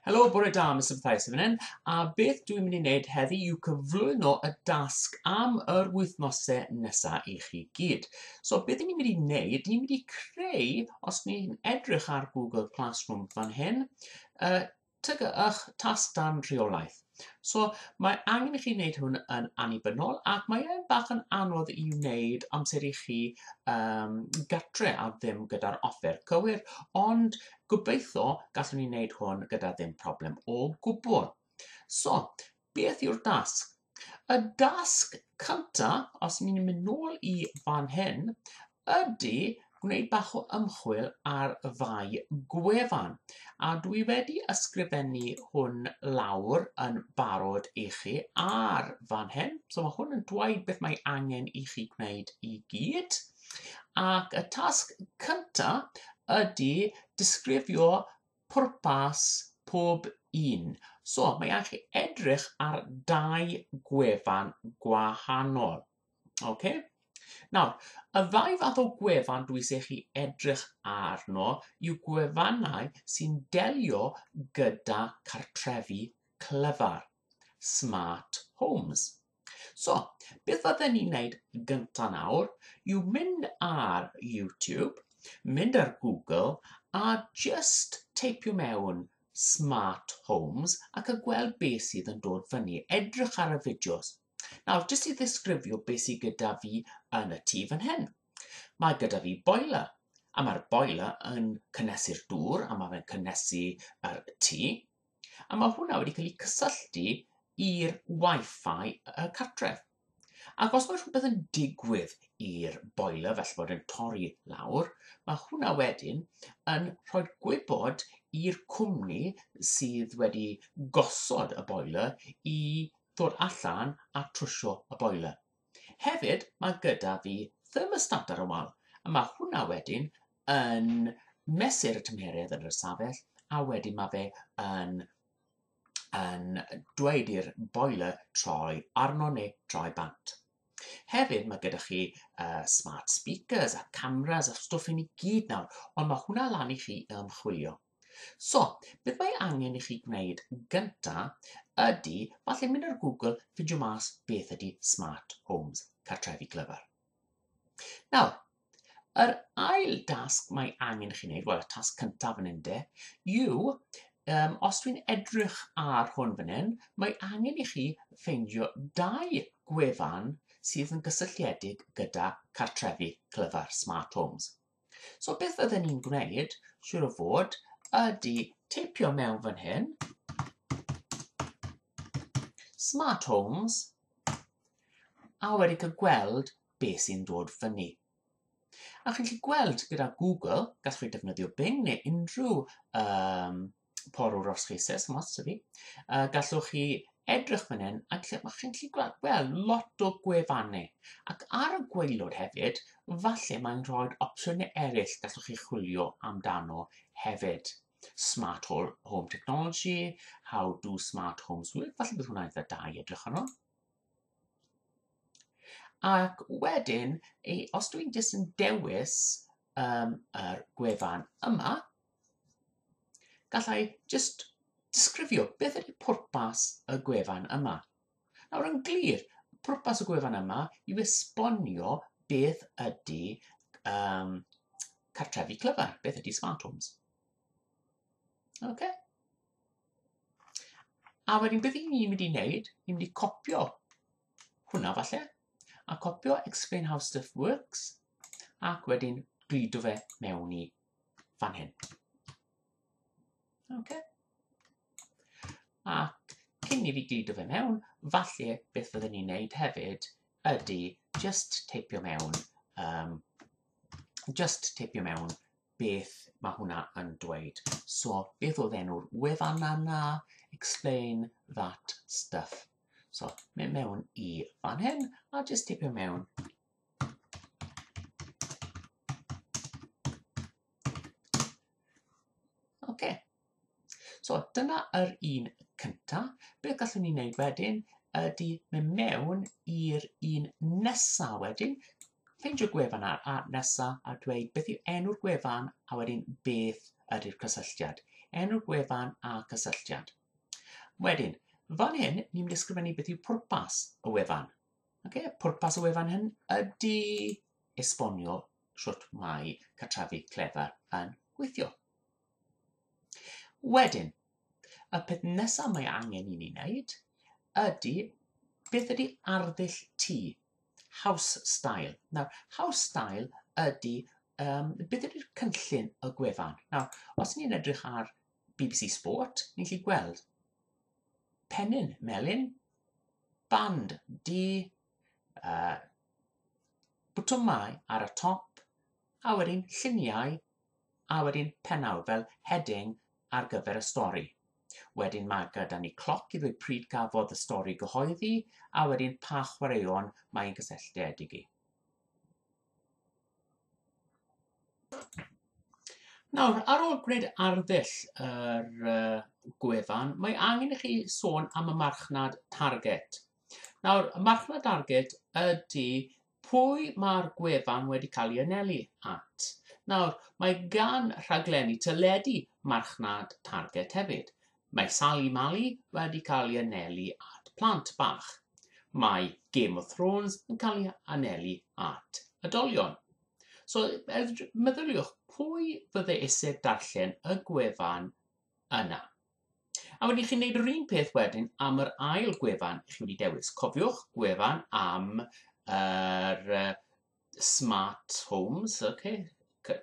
Helo, bore da, Mr Mathias yn fan hyn, a beth dwi'n mynd i wneud heddi yw cyflwyno y dasg am yr wythnosau nesaf i chi gyd. So beth ni'n mynd i wneud, ni'n mynd i creu, os ni'n edrych ar Google Classroom fan hyn, uh, tygy'ch tasg dan rheolaeth. So, mae angen i chi wneud hwn yn annibynnol ac mae e'n bach yn anodd i wneud amser i chi um, gatre a ddim gyda'r offer cywir, ond gobeithio gallwn ni wneud hwn gyda ddim problem o gwbl. So, beth yw'r dasg? Y dasg cynta, os ni'n mynd nôl i fan hyn, ydy gwneud bach o ymchwil ar y ddau gwefan a dwi wedi ysgrifennu hwn lawr yn barod i chi ar fan hyn. So mae hwn yn dweud beth mae angen i chi gwneud i gyd. Ac y tasg cynta ydy disgrifio pwrpas pob un. So mae angen chi edrych ar dau gwefan gwahanol. Oce? Nawr, y ddau fath o gwefan dwi eisiau chi edrych arno yw gwefannau sy'n delio gyda cartrefi clyfar, smart homes. So, beth fydden ni'n wneud gynta nawr yw mynd ar YouTube, mynd ar Google a just teipio mewn smart homes ac a gweld beth sydd yn dod fyny. Edrych ar y fideos. Nawr, jyst i ddisgrifio beth sydd gyda fi yn y tŷ fan hyn. Mae gyda fi boiler, a mae'r boiler yn cynnesu'r dŵr, a mae fe'n cynnesu yr tŷ, a mae hwnna wedi cael ei cysylltu i'r Wi-Fi y cartref. Ac os mae rhywbeth yn digwydd i'r boiler, felly bod yn torri lawr, mae hwnna wedyn yn rhoi gwybod i'r cwmni sydd wedi gosod y boiler i ddod allan a trwsio y boiler. Hefyd mae gyda fi thermostat ar y wal a mae hwnna wedyn yn mesur y tymheredd yn yr ystafell a wedyn mae fe yn yn dweud i'r boiler troi arno neu troi bant. Hefyd mae gyda chi uh, smart speakers a cameras a stwff hyn i gyd nawr, ond mae hwnna lan i chi ymchwilio. So, beth mae angen i chi gwneud gynta ydy, falle mynd ar Google, ffindio mas beth ydy smart homes, cartrefi clyfar. Nawr, yr ail dasg mae angen i chi wneud, wel y tasg cyntaf yn ynde, yw, um, os dwi'n edrych ar hwn fan hyn, mae angen i chi ffeindio dau gwefan sydd yn gysylltiedig gyda cartrefi clyfar smart homes. So beth fydden ni'n gwneud, siwr o fod, ydy teipio mewn fan hyn, smart homes, a wedi cael gweld beth sy'n dod fyny. A chi'n gallu gweld gyda Google, gallwch chi defnyddio Bing neu unrhyw um, porwr os chi eisiau, os ydw i. Uh, gallwch chi edrych fan hyn a lle mae chi'n gallu gweld, wel, lot o gwefannau. Ac ar y gweilod hefyd, falle mae'n rhoi opsiynau eraill gallwch chi chwilio amdano hefyd. Smart Home Technology, How Do Smart Homes Work, falle bydd hwnna'n eitha da i edrych arno. Ac wedyn, os dwi'n jyst yn dewis um, yr gwefan yma, Gallai jyst disgrifio beth ydy pwrpas y gwefan yma. Nawr yn glir, pwrpas y gwefan yma yw esbonio beth ydy um, cartrefi clyfar, beth ydy smart homes. Okay. A wedyn beth ni'n mynd i wneud, ni'n mynd i copio hwnna falle, a copio explain how stuff works, ac wedyn gludo fe mewn i fan hyn. Okay. Ac cyn i fi glido fe mewn, falle beth fyddwn ni'n neud hefyd ydy just teipio mewn, um, just teipio mewn beth mae hwnna yn dweud. So, beth oedd enw'r wefan yna? Explain that stuff. So, mynd mewn i fan hyn, a just teipio mewn Oce. So dyna yr un cyntaf. Beth gallwn ni wneud wedyn ydy mynd mewn i'r un nesaf wedyn, ffeindio gwefan ar a nesaf a dweud beth yw enw'r gwefan a wedyn beth ydy'r cysylltiad. Enw'r gwefan a cysylltiad. Wedyn, fan hyn, ni'n mynd ysgrifennu beth yw pwrpas y wefan. Okay, pwrpas y wefan hyn ydy esbonio sut mae cartrefi clefar yn gweithio. Wedyn, y peth nesaf mae angen i ni wneud ydy beth ydy arddull tŷ, house style. Nawr, house style ydy um, beth ydy'r cynllun y gwefan. Nawr, os ni'n edrych ar BBC Sport, ni'n lli gweld pennyn melyn, band di uh, bwtymau ar y top a wedyn lluniau a wedyn penawd fel heading ar gyfer y stori. Wedyn mae gyda ni cloc i ddweud pryd gafodd y stori gyhoeddi a wedyn pa chwaraeon mae'n gysylltiedig i. Nawr, ar ôl gwneud arddull yr uh, gwefan, mae angen i chi sôn am y marchnad target. Nawr, y marchnad target ydy pwy mae'r gwefan wedi cael ei anelu at. Nawr, mae gan rhaglenni teledu marchnad target hefyd. Mae Sali Mali wedi cael ei anelu at plant bach. Mae Game of Thrones yn cael ei anelu at ydolion. So, meddyliwch, pwy fydde eisiau darllen y gwefan yna? A wedyn chi'n gwneud yr un peth wedyn am yr ail gwefan chi wedi dewis. Cofiwch gwefan am yr smart homes, okay,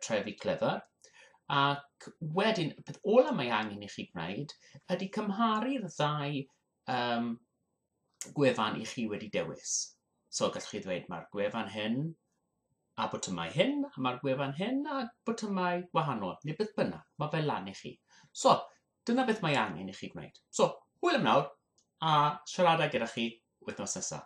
trefi clever, ac wedyn, y peth ola mae angen i chi gwneud ydy cymharu'r ddau um, gwefan i chi wedi dewis. So gallwch chi ddweud mae'r gwefan hyn a botymau hyn, a mae'r gwefan hyn a botymau wahanol, neu beth bynnag, mae fel lan i chi. So, dyna beth mae angen i chi gwneud. So, hwyl am nawr, a siarada gyda chi wythnos nesaf.